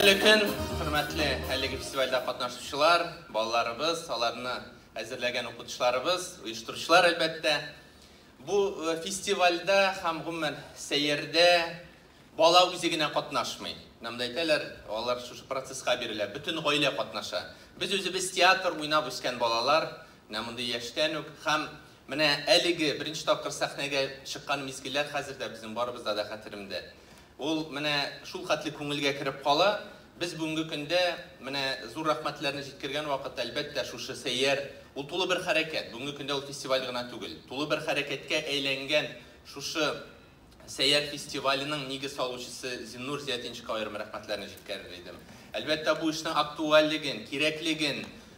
Әлеге көн, хөрмәтле әлеге фестивальдә катнашучылар, балаларыбыз, аларны әзерләгән укытучыларыбыз, оештыручылар, әлбәттә. Бу фестивальдә һәм, гомумән, сәердә бала үзе генә катнашмый. Нам да әйтәләр, алар шушы процесска бирелә, бөтен гаилә катнаша. Без үзебез театр уйнап үскән балалар, менә мондый яшьтән үк. Һәм менә әлеге беренче тапкыр сәхнәгә чыккан мизгелләр хәзер дә безнең барыбызда да хәтеремдә. Ул менә шулхәтле күңелгә кереп кала. Без бүгенге көндә менә зур рәхмәтләрне җиткергән вакыт, әлбәттә, шушы сәйяр, ул тулы бер хәрәкәт, бүгенге көндә ул фестиваль гына түгел, тулы бер хәрәкәткә әйләнгән шушы сәйяр фестиваленең нигез салучысы Зиннур Зиятинчикка аерым рәхмәтләрне җиткерер идем. Әлбәттә, бу эшнең актуальлеген, кирәклеген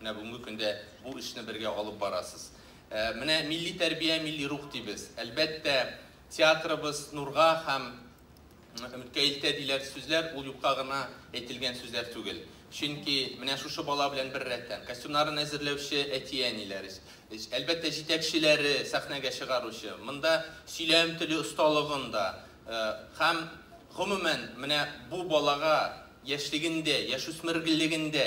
Менә бүгенге көндә бу эшне бергә алып барасыз. Менә милли тәрбия, милли рух дибез. Әлбәттә, театрыбыз нурга һәм өметкә илтә диләр сүзләр, ул юкка гына әйтелгән сүзләр түгел. Чөнки менә шушы бала белән бер рәттән, костюмнарын әзерләүче әти-әниләр, әлбәттә, җитәкчеләре, сәхнәгә чыгаручы, монда сөйләм теле осталыгын да һәм, гомумән, менә бу балага яшьлегендә, яшүсмерлегендә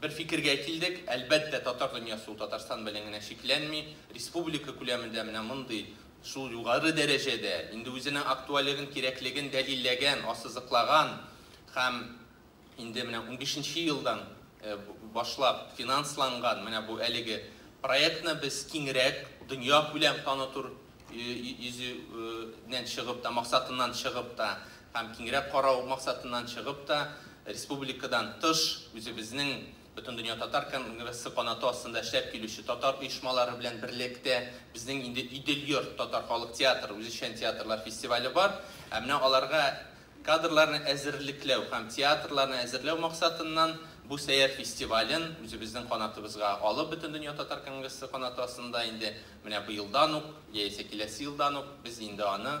Бер фикергә килдек, әлбәттә, татар дөньясы ул Татарстан белән генә чикләнми, республика күләмендә менә мондый, шул югары дәрәҗәдә, инде үзенең актуальлеген, кирәклеген дәлилләгән, ассызыклаган һәм инде менә унбишенче елдан башлап финансланган менә бу әлеге проектны без киңрәк, дөньякүләм таныту йөзе нән чыгып та, максатыннан чыгып та, һәм киңрәк карау максатыннан чыгып та, республикадан тыш, үзебезнең Бөтендөнья татар конгрессы канаты астында эшләп килүче татар оешмалары белән берлектә, безнең инде Идел-йорт татар халык театры, үзешчән театрлар фестивале бар. Ә менә аларга кадрларны әзерлекләү һәм театрларны әзерләү максатыннан бу сәяр фестивален үзебезнең канатыбызга алып, Бөтендөнья татар конгрессы канаты астында инде менә быелдан ук, яисә киләсе елдан ук без инде аны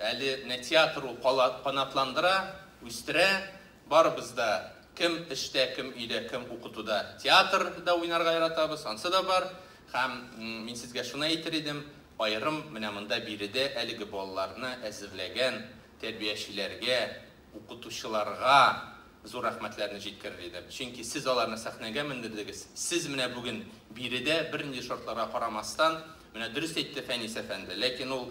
Әле менә театр ул кала, канатландыра, үстерә. Барыбыз да, кем эштә, кем өйдә, кем укытуда, театр да уйнарга яратабыз, ансы да бар. Һәм мин сезгә шуны әйтер идем, аерым менә монда биредә әлеге балаларны әзерләгән тәрбиячеләргә, укытучыларга зур рәхмәтләрне җиткерер идем. Чөнки сез аларны сәхнәгә мендердегез, сез менә бүген биредә, бернинди шартларга карамастан, менә дөрес әйтте Фәнис әфәнде, ләкин ул